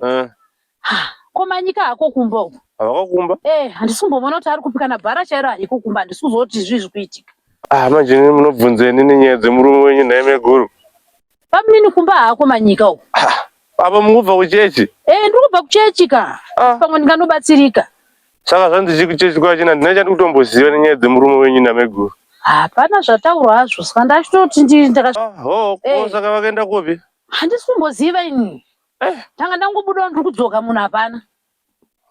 Eh. komanyika hako kumba uku havakakumba eh handisi kumbovona kuti ari kupi kana bhara chairo hariko kumba handisi kuzoti zvii zviri kuitika ah manje munobvunzeni nenyaya dzemurume wenyu nhaime guru Pamnini kumba hako manyika uko. Apa mukubva kuchechi? Eh, ndiri kubva kuchechi ka. Ah. Pamwe ndinganobatsirika. Saka zvandichi kuchechi kwachina ndina chandikutomboziva nenyaya dzemurume wenyu nameguru. Hapana zvataurwa hazvo saka ndachitoti ndiri ndaka. Ah, ho, ko eh. saka vakaenda kupi? Handisi kumboziva ini. Eh. Tanga ndangobuda ndiri kudzoka munhu hapana.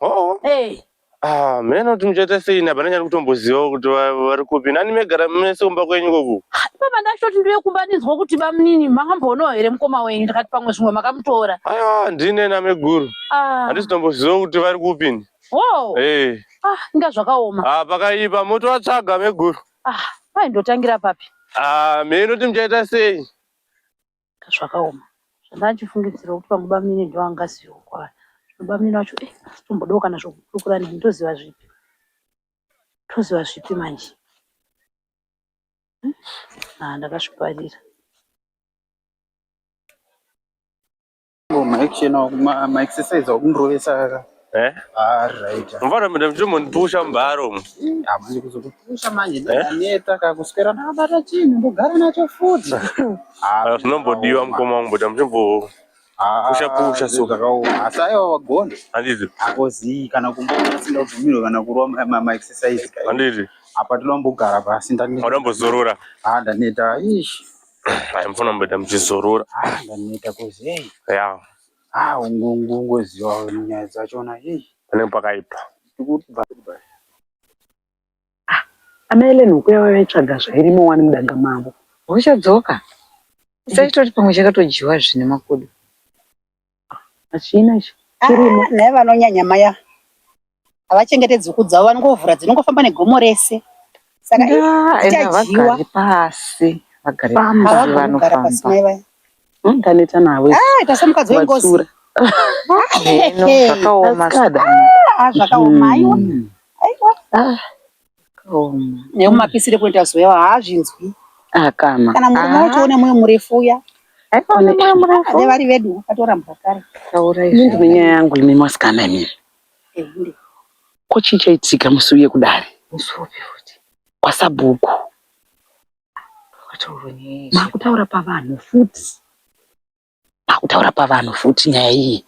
Hoo. Hey. Ah, mheno kuti muchaita sei ini hapana chandikutombozivawo kuti va- vari kupi. Nani megara mese kumba kwenyu koku. Baba ndashoti ndiye kumba ndinzwa kuti bamunini makamboonawo here mukoma wenyu ndikati pamwe zvimwe makamutora. Aiwa ndine nameguru. Ah. Handisi tombozivawo kuti vari kupi ini. Wow. Eh. Ah, inga zvakaoma. Ah, pakaipa motovatsvaga meguru. Ah, kwai ndotangira papi? Ah, mheno kuti muchaita sei. zvakaoma zvandachifungidzira kuti pamwe bamnini ndiwo angazivewo kwaari zvino bamnini vacho eh, tombodawo kana zvokukurukura neni ndoziva zvipi toziva zvipi manje hmm? ah, ndakazviparira maexercise akundirovesa aka eh? ah, mvana mda mchitomondipusha mubharo umu hamani kuzokupusha manje eh? ndaneta kakuswera ndakabata chinhu ndogara nacho futi ah, zvinombodiwa mukoma wangu bota muchimbo pusha pusha so asi aiwa wagona handiti akozii kana kumboona singabvumirwe kana kurova maexercise handiti apa toda kumbogara pasi ndaneta ndaneta ish Aya mfana mbeda mchizorora. Ah, ndaneta kozi hey. Yeah. Ah, ungongo ngoziwa nyaya dzachona hey. Pane pakaipa. Kuti ba. Ah, ana Ellen ukuya vaitsvaga zvairimo wani mudanga mavo. Uchadzoka. Saitori pamwe chakatojiwa zvine makudo. Hachina chirimo. Ah, naye vanonyanya maya havachengete dzuku dzavo vanongovhura dzinongofamba negomo rese saka ichadyiwa pasi vagare pasi vanofamba ndaneta navo ah, ita semukadzi wengozi zvakaoma ah, zvakaoma aiwa hmm. aiwa Neu mapisire kunoita zuva yavo haazvinzwi. Akama. Kana murume ah. wacho une moyo murefu uya. Aone moyo murefu. Ave vari vedu vatorambwa kare. Taura izvi. Ndine nyaya yangu imi masikana imi. Eh, ndi. Ko chii chaitika musi uye kudare? Musi upi futi? Kwasabhuku. Makutaura pavanhu futi. akutaura pavanhu futi nyaya iyi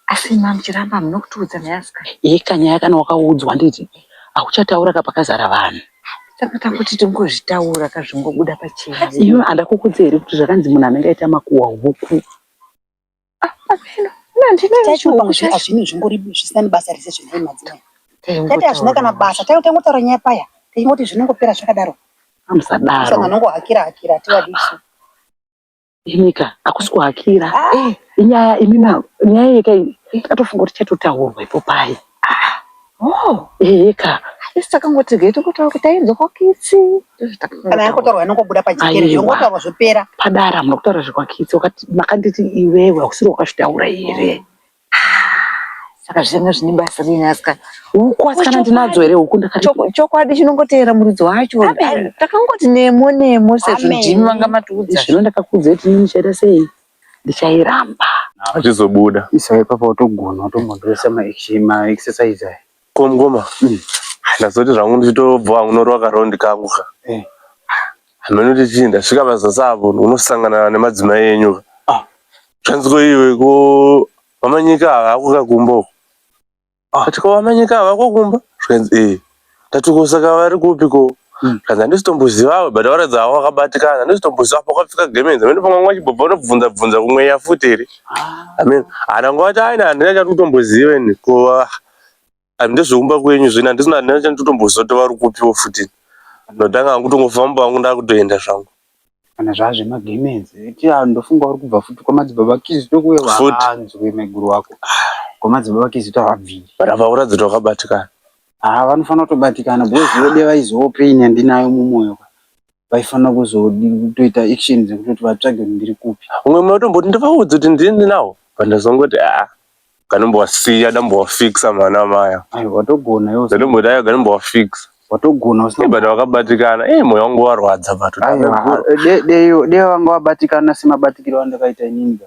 asi imi amuchiramba hamuna kutiudza nyaya sika yeka nyaya kana wakaudzwa nditi akuchataura ka pakazara vanhu saka takuti tingozvitaura ka zvingobuda pachena iwe andakukuudza here kuti zvakanzi munhu anenge aita makuwa huku hazvino zvingori zvisina nebasa rese zvinai madzimai tati hazvina kana basa tangotaura nyaya paya tichingoti zvinongopera zvakadaro amusadaro anongohakira hakira tiwadisu Imika hakusi kuhakira eh, inyaya imi ma- nyaya yeka iyi ndatofunga kuti chatotaurwa ipo paye Oh, eheka isi takangoti ge tokotaura kuti tainzwa kwakitsi. Ndizvo kana takangotaura. yakotaurwa yanongobuda pajekere Aiwa. yongotaurwa zvopera padara hamuna kutaura zvekwakitsi wakati makanditi iwewe hausiri wakazvitaura here Saka zvanga zvine basa rei aska huku asikana ndinadzo here huku ndakati Chok- chokwadi chinongoteera muridzi wacho Amen. takangoti nemo nemo sezvo Amen. ndimi vanga matiudza zvino ndakakuudza kuti ini ndichaita sei ndichairamba Zvizobuda. Isa ipapo watogona watombotoisa ma action ma exercise aya. Ko mukoma ndazoti zvangu ndichitobva hangu norova karaundi kangu ka eh. hameno kuti chii ndasvika pazasi apo unosangana nemadzimai enyu ka ah. zvanzi ko iwe ko vamanyika havako kakumba uko ah. ati ko vamanyika havako kumba zvikanzi ee eh. ndati ko saka vari kupi ko hmm. zvanzi handisitombozivawe but varatidza havo vakabatikana handisitomboziva apo kwapfika gemenzi amene pamwe mwa chibobva unobvunza bvunza kumweya futi here ah. amene hanangovati aina handina chati kutomboziva ini ko handizve kumba kwenyu zvino handisina handina chandotomboziva kuti vari kupiwo futi ndotanga hangu tongofamba hangu ndakutoenda zvangu kana zvaa zvemagemenzi eti ah, ndofunga uri kubva futi kwamadzibaba kizito kuve Futi. wakanzwe maiguru wako kwamadzibaba kizito havabviri rava uratidza kuti wakabatikana haa vanofanira kutobatikana because vode vaizivawo pain yandinayo mumwoyo ka vaifanira kuzotoita action dzekutoti vatsvage kuti ndiri kupi umwe mwe utomboti ndivaudze kuti ndiri ndinawo but ndazongoti aa kanombowasiya dambowafixa mwana maya ayi watogona yose ndatomboti ayo ganombowafixa watogona usina but wakabatikana e moyo wangu warwadza but Aiwa, de- dei dei vanga vabatikana semabatikiro andakaita inini ka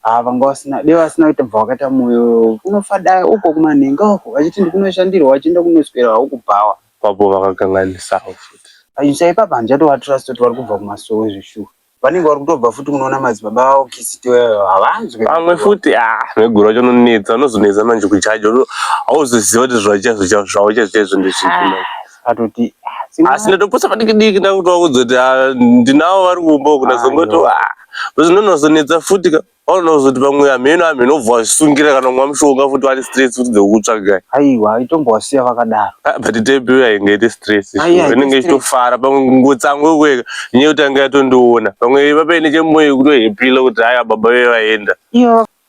Haa ah, vanga vasina dai vasina kuita bva vakaita moyo unofada uko kumanhenga uko vachiti ndikunoshandirwa vachienda kunoswera uku bhawa papo vakakanganisawo futi achisa ipapa handichatovatrust kuti vari kubva kumasowe zveshuwa vanenge vari kutobva futi munoona madzibaba vavo kisiti weyo havanzwe pamwe futi a ah, veguru vacho unonetsa unozonetsa manje kuchaja hauzoziva kuti zvachazo zvavo chaizvo chaizvo ndezvipi atoti asi ndatoposa padiki diki ndakutoa kudzoti ah, ndinavo vari kumba uku ndazongoti ah, zvinonozonetsa futi ka vanozoti pamwe hameno hameno obva vasungira kana kumwa mushonga futi vane stress futi dzekutsvagai aiwa itombowasiya vakadaro ah, but tepi yainge ite stress inenge ichitofara pamwe ngotsango yokueka nyaya yekuti anga yatondiona pamwe iva paine chemoyo kutohepila kuti haya baba vevaenda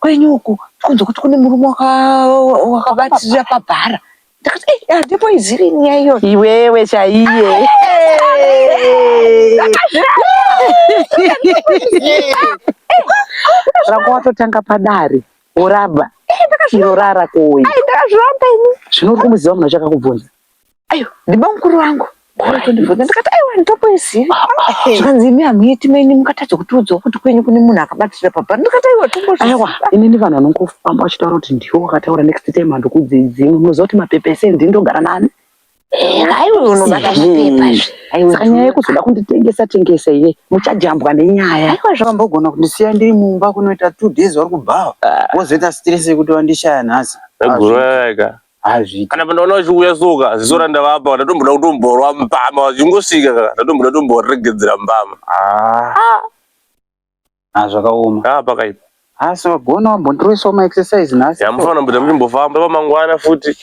Kwenyu uku tikunzwa kuti kune murume wakabatirira pabhara ndakati ei eh, handipo eh, iziri nyaya iyo iwewe chaiye rako watotanga padare woraba iro rara kuuya zvino uri kumuziva munhu achakakubvunza ayo ndibamukuru vangu ndikatondibvunza ndikati aiwa nditokuizivi zvikanzi imi hamuiti menyu mukatadza kutiudzawo kuti kwenyu kune munhu akabatira pabha ndikati aiwa tombozviaiwa inini vanhu vanongofamba vachitaura kuti ndiwo wakataura next time handokudzidzimwe munoziva kuti mapepa ese ndini ndogara nani saka nyaya yekuzoda kunditengesa tengesa iye muchajambwa nenyaya aiwa zvakambogona kundisiya ndiri mumba kunoita two days vari kubhawa ah. vozoita stress yekuti vandishaya nhasi hazvi kana pandaona vachiuya soka ziso randavapa ndatomboda kutomborwa mbama vachingosvika ka ndatomboda kutomboregedzera mbama ah. Ah. Ah, zvakaoma ah, pakaipa asi vagona vambondiroisawo maexercise nhasi yamufanira mbuda muchimbofamba pamangwana futi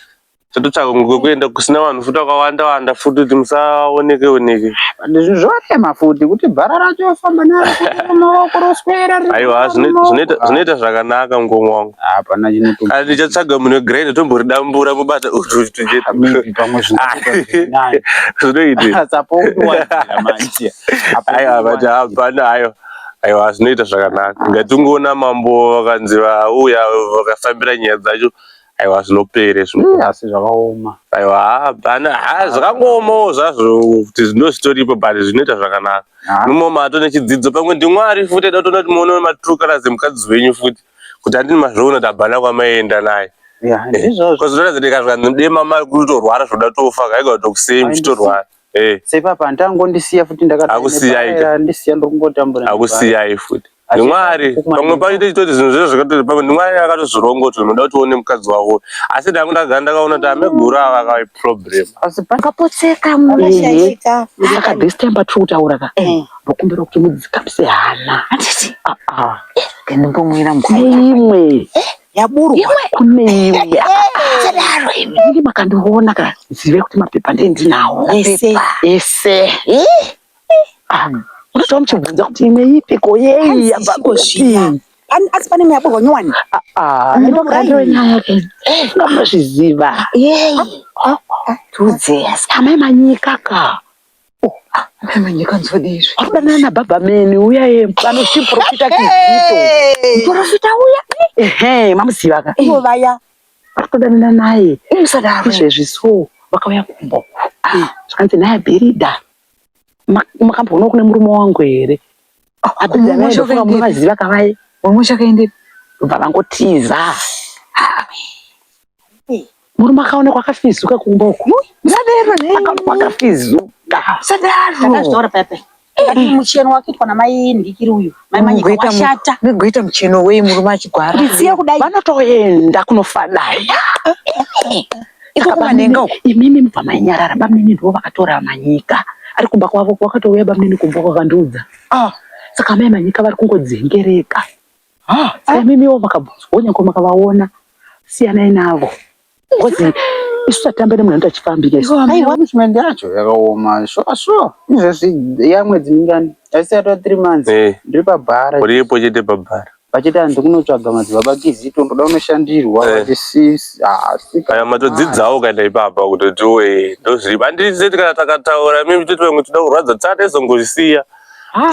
tototsvaka kwekuenda kusina vanhu futi vakawanda wanda futi kuti musaoneke oneke zvinhu zvorema futi kuti bhara racho famba naro maoko roswera aiwa zvinoita zvakanaka mukoma wangu hapana chinoto kana ndichatsvaga munhu wegrind tomboridambura mubata zvinoitihapana ayo aiwa zvinoita zvakanaka ngatingoona mambo vakanzi vauya vakafambira nyaya dzacho aiwa zvinopere asi zvakaoma aiwa hapana ha zvakangoomawo zvazvo kuti zvino zvitoripo but zvinoita zvakanaka imomo atone chidzidzo pamwe ndimwari futi aida kutona kuti muone maturuka razimukadzi wenyu futi kuti andini mazviona kuti abhana kwamaienda naye kozotona kuti kazvanzi mdema mari kutorwara zvoda tofa kaiga kuti kusei muchitorwara eh. sepapo handitangondisiya futi ndakaakusiyai ndokungotambura akusiyai futi ndimwari pamwe pacho tichitoti zvinhu zviro zvakatoti pamwe ndimwari akatozvironga kuti unoda kuti uone mukadzi wavo asi ndangu ndagara ndakaona kuti ameguru ava akave problem asi pakapotseka mumashayika akadistemba tiri kutaura ka eh. ndokumbira kuti mudzikapise hana handiti ndimbomwira mvura imwe yaburwa kune imwe sadaro imi ini makandiona ka zive kuti mapepa ndiye ndinawo ese ese unotaura muchibvunza kuti imwe ipiko yei yabva kupi asi pane imwe yaburwa nyowani ndokaenyaya ke ngamazviziva tudze amai manyika ka Arikudanana na baba meni uya ye vanochi profita kizito. Profita uya. Ehe mamuziva ka. Ivo vaya. Arikudanana naye. Musadaro. Izvezvi so vakauya kumba uku. Zvikanzi naye Bhiridha. Makamboonawo kune murume wangu here? Abhiridha naye ndofunga munovaziva ka vaye. Mumusha kaendepi? Ndobva vangotiza. Murume akaonekwa akafizuka kumba uku. Musadero ne. Akaonekwa akafizuka. Musadero. Ndakazvitaura pepe. Ndati eh. mucheno wakitwa namai ndikiri uyu. Mai manyika washata. Mugoita mucheno wei murume achigwara. Ndisiye kudai. Vanotoenda kunofadai. Ikabanenga uku. Imimi mubva mainyarara bamnini ndivo vakatora manyika. Ari kumba kwavo wakatouya bamnini kumba kwakandiudza. Ah. Saka mai manyika vari kungodzengereka. Ah, ah. mimiwo makabvunzwa onyanko makavaona siyanai navo ngozi isu tatamba nemwana anoita chifambike punishment yacho yakaoma sure sure izvezvi yamwedzi mingani asi yatova three months eh. ndiri pabhara uripo chete pabhara vachiti hanzi kunotsvaga madzibaba kizito ndoda unoshandirwa vachisiaya eh. matodzidzawo ukaenda ipapa kuti tiwe ndozviripo handizeti kana takataura mimi toti vamwe toda kurwadza tsata izongozvisiya Ah.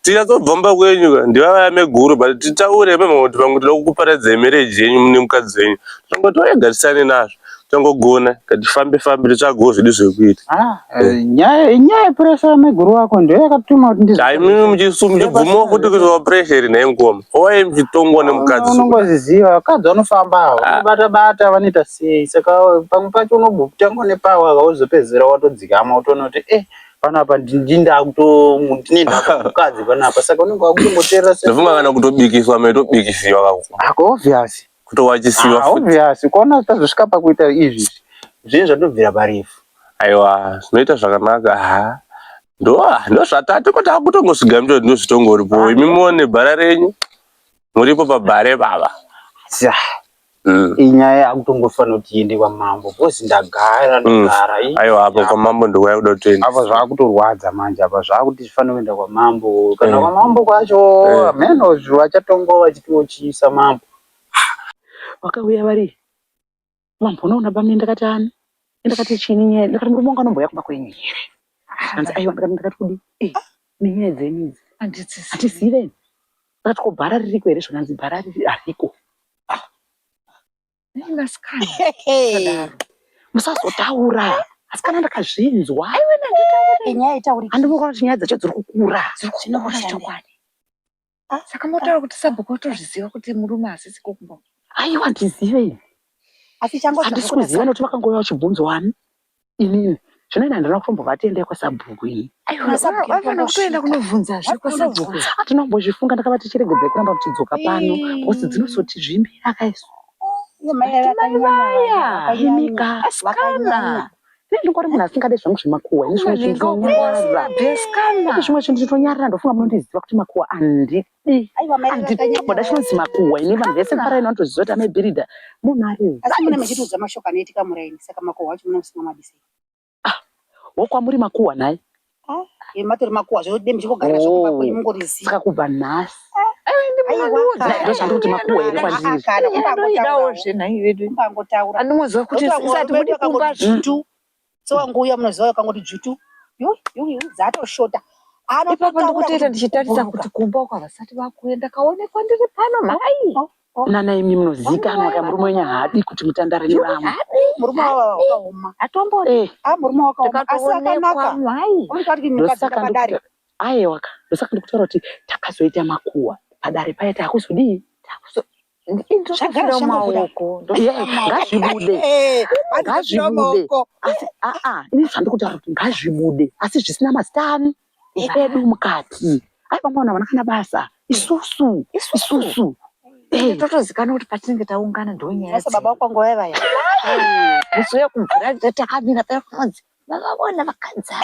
tinyatsobvomba kwenyu ka ndivavaya meguru but titaure pemhanga kuti vamwe tinoda kukuparadzai mereji yenyu mune mukadzi wenyu tongo toegatisane nazvo tongogona katifambe fambe titsvagawo zvedu zvekuita ah, eh, nyaya inyaya pressure yameguru wako ndiyo yakatuma kuti ndiimimi muchibvumawo kuti kuzowa pressure iri nhai mukoma owai muchitongwa nemukadzi unongoziziva vakadzi vanofamba avo ah. bata bata vanoita sei saka pamwe pacho unobutangwa nepawa kauzopedzera watodzikama utoona kuti eh hey, panapa ndindakutomukadzi panapa saka unenge wakutomboteerera ndofunga kana kutobikiswa maitobikisiwa kako obvious kutowachisiwa ah, obvious kuona tazosvika pakuita izvi zvinhu zvatobvira parefu aiwa zvinoita zvakanaka ha ndozvatati ko takutongosviga mito ndozvitongoripo ah, imi muone bhara renyu muripo pabhare baba Mm. inyaya yakutongofanira kuti iende kwamambo because ndagara mm. ndogara mm. aiwa apo kwamambo ndiko yakuda kuti tiende apa zvakutorwadza manje apa zvakuti zvifanira kuenda kwamambo kana mm. kwamambo kwacho mm. Eh. menos vachatongo vachitiochiisa mambo vakauya vari mambo unoona bami ndakati ani ndakati chini nyaya ndakati murume wanga anomboya kumba kwenyu here hanzi aiwa ndakati ndakati kudi eh, nenyaya dzenyu idzi handisizive But ko bhara ririko here zvakanzi bhara riri hariko. Ah. Nei vasikana musadaro? Musazotaura. Asikana ndakazvinzwa. Aiwe nanditaure. Inyaya itauri. Handimukona kuti nyaya dzacho dziri kukura. Dziri kukura chokwadi. Ah, Saka motaura kuti sabhuku otozviziva kuti murume asisi kumbo. Aiwa ndizive ini. Asi changu Handisi kuziva nekuti vakangouya vachibvunzwa ani. inini zvinoita handina kutombovati endai kwasabhuku iyi aivafanira kutoenda kunovhunzazve kwasabhuku hatina kumbozvifunga ndakavati chiregedzai kuramba muchidzoka pano bhosi dzinosotizvimbira kaisu ndingori munhu asingade zvangu zvemakuwa ini zvimwe zvinhu ndinonyarara zvimwe zvinhu ndinonyarara ndofunga munondiziva kuti makuwa andidi andiboda chinonzi makuhwa ini vanhu vese mvara ino vanotoziva kuti amebhiridha munhu ari asi mune mechitiudza mashoko anoitika muraini saka makuhwa acho mune musina madise ah, wokwamuri makuhwa nhai ah, matori makuhwa zvode muchingogarira zvokuvakwei oh, mungoriziva kubva nhasi ah, ndozvandikuti makuhwa here kwandiriidawo zvenhai vedu andimuziva kuti isati mudipumba zvintu Mutsi wangu uya munoziva wakangoti dzvutu. Yuh, yuh, yuh, dzatoshota. Ipapo Anototaura ndikutoita kuti ndichitarisa kuburuka. kuti kumba uko havasati vakuuya ndakaonekwa ndiri pano mhai. Oh, oh. Nana imi munozikanwa ka murume wenyu haadi kuti mutandare nevamwe. Murume wava wakaoma. Atomboti. Eh, Ah, murume wakaoma. Asi Ndakatoonekwa akanaka. mhai. Uri kati mukadzi ndosaka ndakadari. ndikuta- aewaka ndosaka ndikutaura kuti takazoita makuhwa padare paya takuzodii Takuzo- zvagara maoko ngazvibude ngazvibude asi aa ini zvandikutaura kuti ngazvibude asi zvisina mazita ani edu mukati ai vamwe vanhu havana kana basa isusu isusu totozikanwa kuti patinenge taungana ndonyaya baba kwangu vaya vaya musi uya kumvura takamira paya kunonzi vavavona vakadzi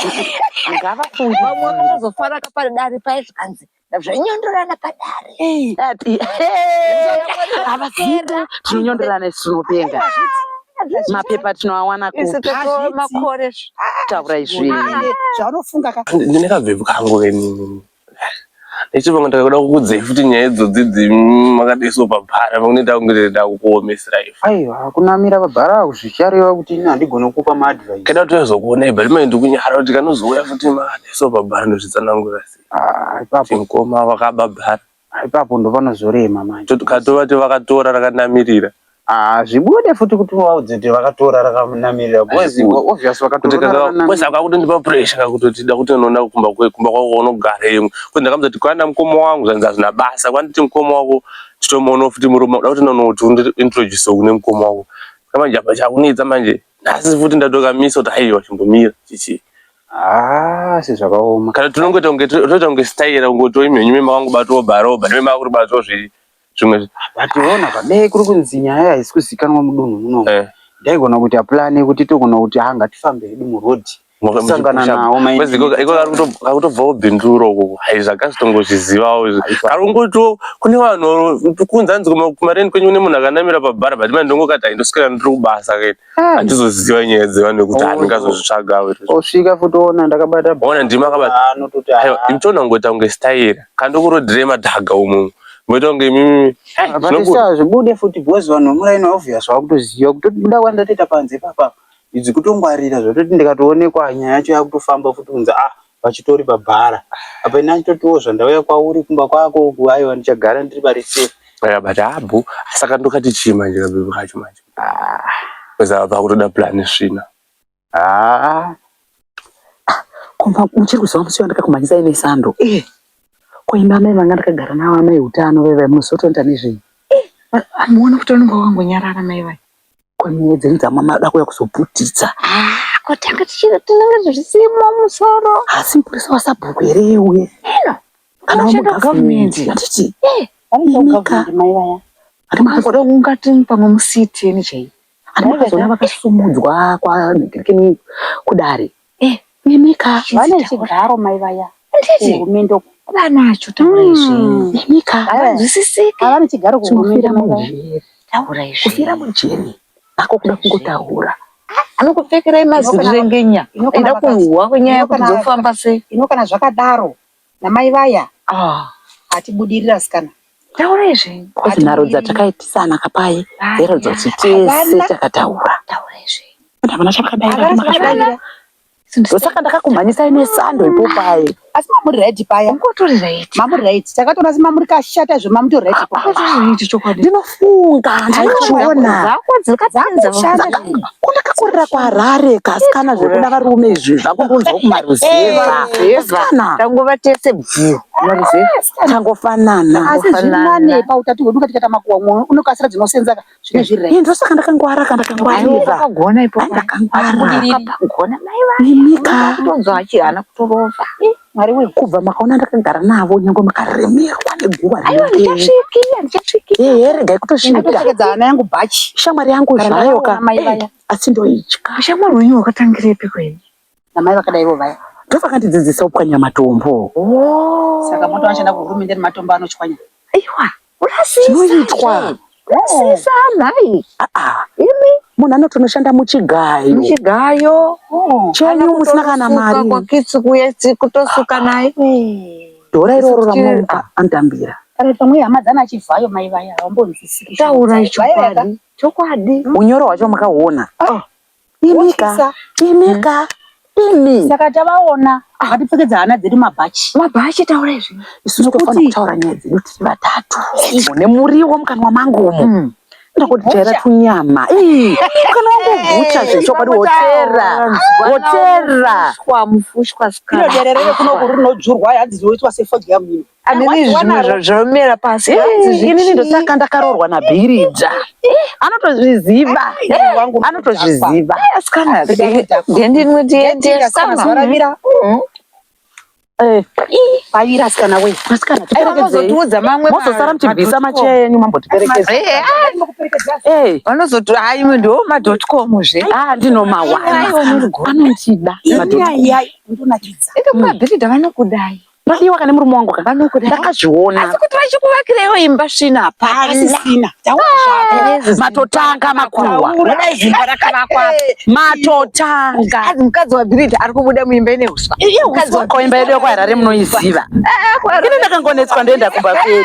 ngavafunge vamwe vakazofara kapari dare paye zvikanzi zvanyondorana padare avaziva tinonyondorana isi tinopenga mapepa tinoawana kumakore taura izvi zvaunofunga ka ndine kabvebvu kangu venini Nechipanga ndakakuda kukudzei futi nyaya idzodzi dzimakadaiso pabhara pamwe ndakunge ndakukuomesera ife. Aiwa kunamira pabhara kuzvichareva kuti ini handigone kukupa maadvice. Keda kuti uzokuonai but mai ndikunyara kuti kanozouya futi makadaiso pabhara ndozvitsanangura sei. Ah ipapo. Kuti mukoma vakaba bhara. Ah ipapo ndopanozorema manje. Katovati vakatora rakanamirira. Ah, zvibude futi kuti vaudze kuti vakatora rakanamirira because obvious vakatora because akakutondipa pressure kakutoti da kuti unoona kumba kwe kumba kwako unogara imwe kuti ndakamuzoti kwanda mukoma wangu zvanzi hazvina basa kwanditi mukoma wako chitomuona futi murume kuda kuti unoona kuti undi introduce kune mukoma wako saka manje apa chakunetsa manje nhasi futi ndatokamisa kuti aiwa chimbomira chichi Ah, si zvakaoma kana tinongoita kunge toita kunge style kungoto imhenyu mema wangu batoba roba nemema kuri bato zvi zvimwe vationa padai kuri kunzi nyaya haisi kuzikanwa mudunhu muno eh. ndaigona kuti aplane kuti togona kuti ha ngatifambe hedu muroad kusangana nawo akutobvawo binduro ukoko hai zvakazitongozvizivawo kari kungotiwo kune vanhu kunzi anzi kumareni kwenyu kune munhu akanamira pabhara but mani ndongokati haindoswera ndiri kubasa keni handizoziva eh. nyaya dzevanu nekuti oh. handingazozvitsvaga osvika futi ona ndakabata ona ndima akabata imtona ngoita kunge staira kandokurodhire madhaga umumwe Voita kunge imimi. Batisa zvibude futi because vanhu vemuraini obvious vakutoziva kutobuda kwandatoita panze papa idzi kutongwarira zvototi ndikatoonekwa nyaya yacho yakutofamba futi kunzi ah vachitori pabhara apa ini achitotiwo zvandauya kwauri kumba kwako uku aiwa ndichagara ndiri pari safe yeah, but abu saka ndokati chii manje kabebi kacho manje ah. because vakutoda plan svina haa kumba muchiri kuziva musi wandakakumhanyisa ine sando eh koimba amai vanga ndakagara navo amai utano veve muzotonda nezvenyu amuoni kuti vanenge vakangonyarara mai vai kwemwedzi dziri dzamwa mada kuya kuzoputitsa kotanga tichiri tinenge zvisimo musoro asi mupurisa wasabhuku here iye uye ino kana Unoshanda government. wamugavhumenti handiti imika Imika. mai vaya Ari makazoda kungatini pamwe musiti ene chaiyo Ndaivazoona vakasumudzwa kwaDikini kudare. Eh, Nemika. Vane chigaro mai vaya. Nditi. Kuhumende uko. Vanacho taura izvi. Mm. Nemika. Havazwisisike. Havane chigaro kuhumende mai vaya. Taura izvi. Kufira mujeri. Ako kuda kungotaura. Anokupfekerai mazirengenya. Inoda kuhwa kwenyaya kuti dzofamba sei. Inokana zvakadaro. namai vaya ah atibudirira asikana taurai zvenyu Coz nharo dzatakaitisana ka paye dzairatidza kuti tese Havana. takataura taurai zvenyu And havana chavakadaira Havana kuti makashora. chavakadaira. ndosaka ndakakumhanyisai nesando ipo paye asi mamuri right paya ungotori right mamuri right takatoona asi mamuri kashata zve mamutori right paya ungotori right chokwadi Ndino- funga ndaichiona ndakakurira kuharare kasikana zvekuda varume izvi zvakungonzwa kumaruzevaasikana tangova tese bvuu tangofanana asi zvinane pautatu hwedu katikata makuwa mwe unokasira dzinosenza zvine zviri rai ndosaka ndakangwara ka ndakangwariragona ipogona mai vanhu ndonzwa achihana kutorova Mwari wee kubva makaona ndakagara navo nyange makaremerwa neguva riye regai kutosvika hana yangu bhachi shamwari yangu zvayo ka asi ndoitya shamwari wenyu wakatangirepi kweni namai vakadai ivo vaya ndovakandidzidzisa kupwanya matombo oh. saka moto vachada kuhurumende nematombo anochwanya aiwa Zvinoitwa. Kurasisa nhai. Ah, ah. Imi munhu anotonoshanda muchigayo. Muchigayo. Oh. Chenyu musina kana mari. Kwakitsi kuye kutosuka ah, naye. Dora iroro ramuka andambira. Kana pamwe hama dzana chivhayo mai vaya havambonzwisisi. Taura chokwadi. Chokwadi. Unyoro hwacho makahuona. Oh. Imika, imika, imi. Saka tavaona ah. vatipfekedza hana dzedu mabhachi. Mabhachi taura izvi. Isu tinofanira kutaura nyaya dzedu tiri vatatu. Nemuriwo mukanwa mangu umu. Hmm. Ndakutera tunyama. Mukanwa wangu gucha zvechokwadi wotera. Wotera. Mufushwa mufushwa. Ino derere kuno kuri rinodzurwa yadzizoitwa sefodya mhino. zvomera pasi inini ndotanga ndakaroorwa nabhiridza anotozviziva anotozviziva vanozotiudza mamwe mozosara muchibvisa macheya yenyu mambotiperekedza vanozoti haimwe ndiwo madotcom zve a ndinomawana anondida madotcom ndonakidza ende kumabhiridha vanokudai Maiwa kana murume wangu ka ndakazviona. Asi kuti vachikuvakirewo imba svina hapana. Asisina. Ah, matotanga makuwa. Kudai zimba rakavakwa. Matotanga. Azi mukadzi waBirita ari kubuda muimba ine uswa. Iye mukadzi wako imba yedu yako harare munoiziva. Eh, eh, Ini ndakangonetswa ndoenda kumba kwedu.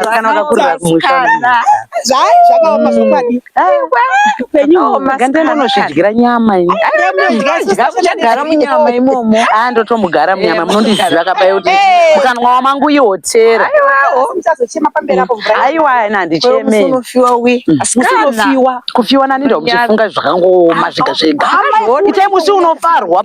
Kana vakakurira kumusha. Zvai zvakaoma zvokwadi. upenyu nyama muchagara munyama imomo aa ndotomugara munyama munondiziva kapai kuti mukanwa wamangu ihotera aiwa ana handicheme kufiwa nani ndomuchifunga zvakangooma zvega zvega itai musi unofarwa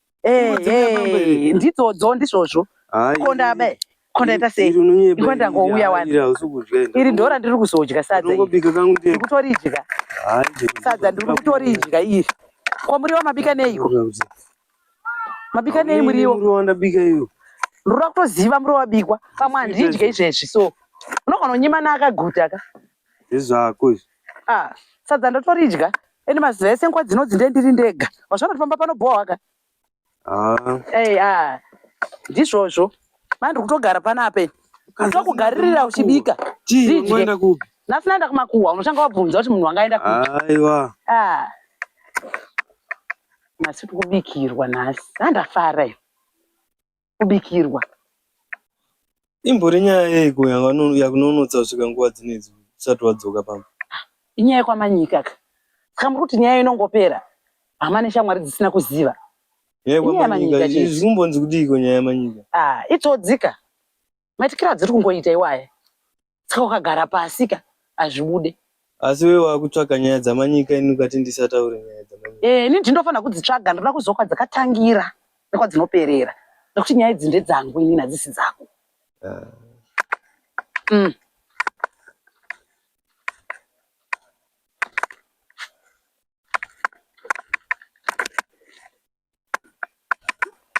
Eh, eh, ndidzodzo ndizvozvo konda be konda ita sei iko ndangouya wani iri ndora ndiri kuzodya sadza iri kutoridya sadza ndiri kutoridya iri ko muriwo mabika neiko mabika nei muriwo ndinoda kutoziva muriwo wabikwa pamwe handidye izvezvi so unogona kunyimana akaguta ka Izvi zvako izvi. Ah, sadza ndotoridya. Ende maziva ese nguva dzinodzi ndiye ndiri ndega. Wazvaona kuti pamba panobhohwa ka? Ah, Hey, ah. Ndizvozvo. Manje ndiri kutogara panapa ini. Ndokugaririra uchibika. chii Zvidye. unoenda kupi? Nhasi ndaenda kumakuhwa unoshanga wabvunza kuti munhu wanga aenda kupi. Aiwa. Ah. Nhasi tiri kubikirwa nhasi. Ah, ndafara ini. kubikirwa imbori nyaya yeiko yakunonotsa kusvika nguva dzinedzi usati wadzoka pamba inyaya yekwamanyika ka saka muri kuti nyaya inongopera hama neshamwari dzisina kuziva zvimbonzi kudiiko nyaya yamanyika ah, itsodzika maitikira adziri kungoita iwaye saka ukagara pasika hazvibude asi wewe wakutsvaga nyaya dzamanyika ini ukati ndisataure nyaya dzamanyika eh, ini ndindofanira kudzitsvaga ndinoda kuziva kwadzakatangira nekwadzinoperera nekuti nyaya idzi ndedzangu inini hadzisi dzako ah. mm.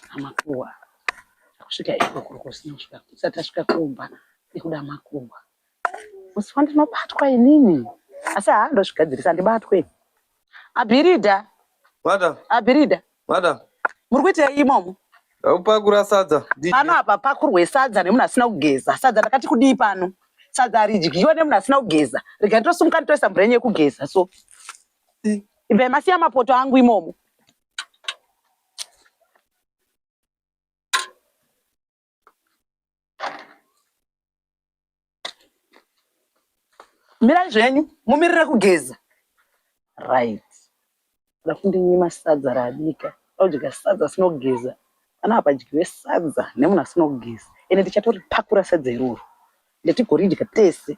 amakuwa kusvika ikoko kusina kusvika kusati asvika kumba nekuda makuwa musi wandinobatwa inini asi haa ndozvigadzirisa ndibatwe abhirida madam abhirida madam muri kuitei imomo aupakura sadza pano apa pakurwe sadza nemunhu asina kugeza sadza ndakati kudii pano sadza haridyiwa nemunhu asina kugeza rega nditosumuka nditoisa mvura yenyu yekugeza so vemasiya mapoto angu imomo mirai zvenyu mumirire kugeza right da kundinyima sadza raabika odya sadza asinogeza ana apadyiwe sadza nemunhu asinogeza ende tichatoripakura sadza iroro ndatigoridya tese